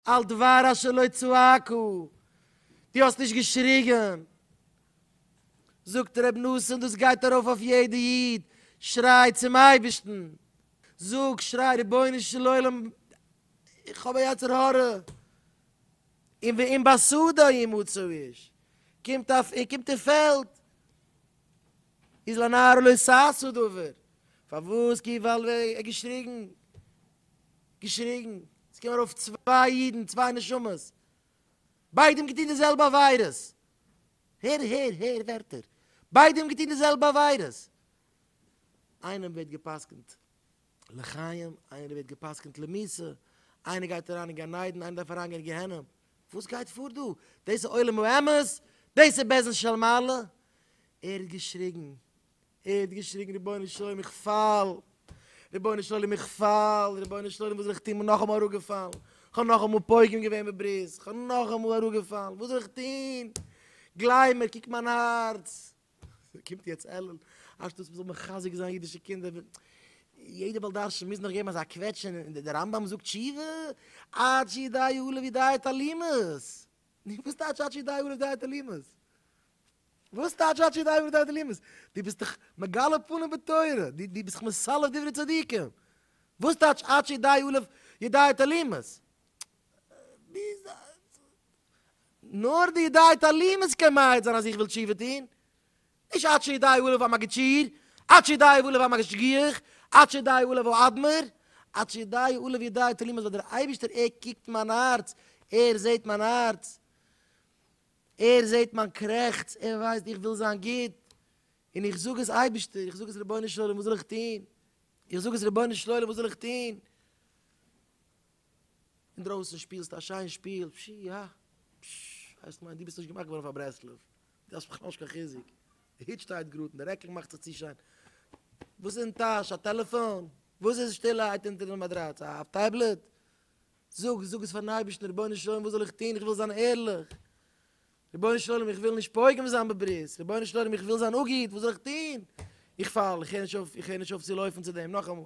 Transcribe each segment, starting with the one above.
על דבר אשר לא צעקו, דו האסט נישט געשריגן. זאגט ר' נתן דאס גייט ארויף אויף יעדע איד, שריי צום אייבערשטן, זאג, שריי, רבונו של עולם, איך האב א יצר הרע, און ואם בשדה ימצא איש, קומט א, ער קומט אין פעלד, איז לנער לא שש הוא דבר, פארוואס, כי וועל, ער האט געשריגן. געשריגן, עס קומען ארויף צוויי אידן, צוויי נשמות, ביידע האבן געטון די זעלבע עבירות, הער, הער, הער ווערטער, ביידע האבן געטון די זעלבע עבירות, איינעם ווערט גע'פסק'נט לחיים, איינער ווערט גע'פסק'נט למות, איינער גייט אריין אין גן עדן, איינער דארף אריין גיין אין גיהנום, וואס גייט פאר דא? דאס איז עולם האמת? דאס איז בעזעם של מעלה? ער האט געשריגן, ער האט געשריגן רבונו של עולם איך פאל, רבונו של עולם איך פאל, רבונו של עולם וואס זאל איך טון כ'בין נאכאמאל אראפגעפאלן, כ'האב נאכאמאל פוגם געווען בברית, כ'בין נאכאמאל אראפגעפאלן, וואס זאל איך טון, גלייב מיר קוק מיין הארץ, קומט יעצט אלול, אנשטאט מ'זאל מחזק זיין אידישע קינדער, יעדע בעל דרשן מוז נאך געבן אזא קוועטש אין דער רמב ם זאגט תשובה, עד שידעו אלו וידעו את הלימוד, נו וואס טייטש עד שידעו אלו וידעו את הלימוד? וואס טייטש עד שידי עברו דרך אלימות? דו ביסט דאך מגלה פנים בתורה, דו ביסט דאך מסלף דברי צדיקים, וואס טייטש עד שידי אלף ידי את אלימות? נאר די ידי את אלימות קען מעיד זיין אז איך וויל תשובה טון, נישט עד שידי אלף א מגיד שיעור, עד שידי אלף א משגיח, עד שידי אלף א אדמו ר, עד שידי אלף ידי את אלימות ווייל דער אייבערשטער ער קוקט מיין הארץ, ער זעט מיין הארץ. ער זעט מיין קרעכץ, ער ווייסט איך וויל זיין גוט, און איך זאג עס אייבערשטער, איך זאג עס רבונו של עולם וואס זאל איך טון, איך זאג עס רבונו של עולם וואס זאל איך טון, אינדרויסן שפילסטו א שיין שפיל, פשי יא, פשש, הייסט מיין דו ביסט נישט געמאכט געווארן פאר ברסלב, דו האסט בכלל נישט קיין חיזוק, די הוט שטייט גראד און די רעקל מאכט זיך צו שיין, וואס איז אין טאש, א טעלעפאן? וואס איז שטילערהייט אונטער די מאטראץ, א טעבלעט? זאג, זאג עס פארן אייבערשטן, רבונו של עולם וואס זאל איך טון, איך וויל זיין ערליך, רבונו של עולם איך וויל נישט פוגם זיין בברית, רבונו של עולם איך וויל זיין א גוט, וואס זאל איך טון, איך פאל, איך הער נישט אויף, איך הער נישט אויף צו לויפן צו דעם, נאכאמאל.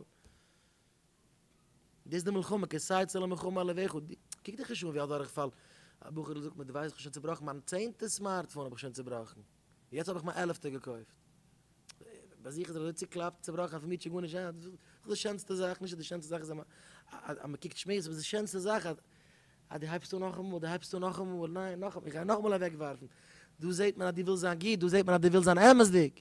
דאס איז די מלחמה, כסיי צל המלחמה על לבך, קוק דיך נישט אן ווי א דורכפאל, א בחור'ל זאגט מיר, דו ווייסט איך האב שוין צובראכן מיין צענטע סמארטפאון האב איך שוין צובראכן. יעצט האב איך מיין עלעפטע געקויפט, ביי זיך איז ער אזוי צוקלאפט, צובראכן, ער פארמיט שוין גארנישט, אה, דאס איז די שענסטע זאך, נישט אז די שענסטע זאך איז אז מען קוקט שמועות, אבער די שענסטע זאך אז אז דו הייבסט אן נאכאמאל, דו הייבסט אן נאכאמאל, ניין, נאכאמאל, איך גיי נאכאמאל אוועקווארפן, דא זעט מען אז דו ווילסט זיין גוט, דא זעט מען אז דו ווילסט זיין אמת'דיג.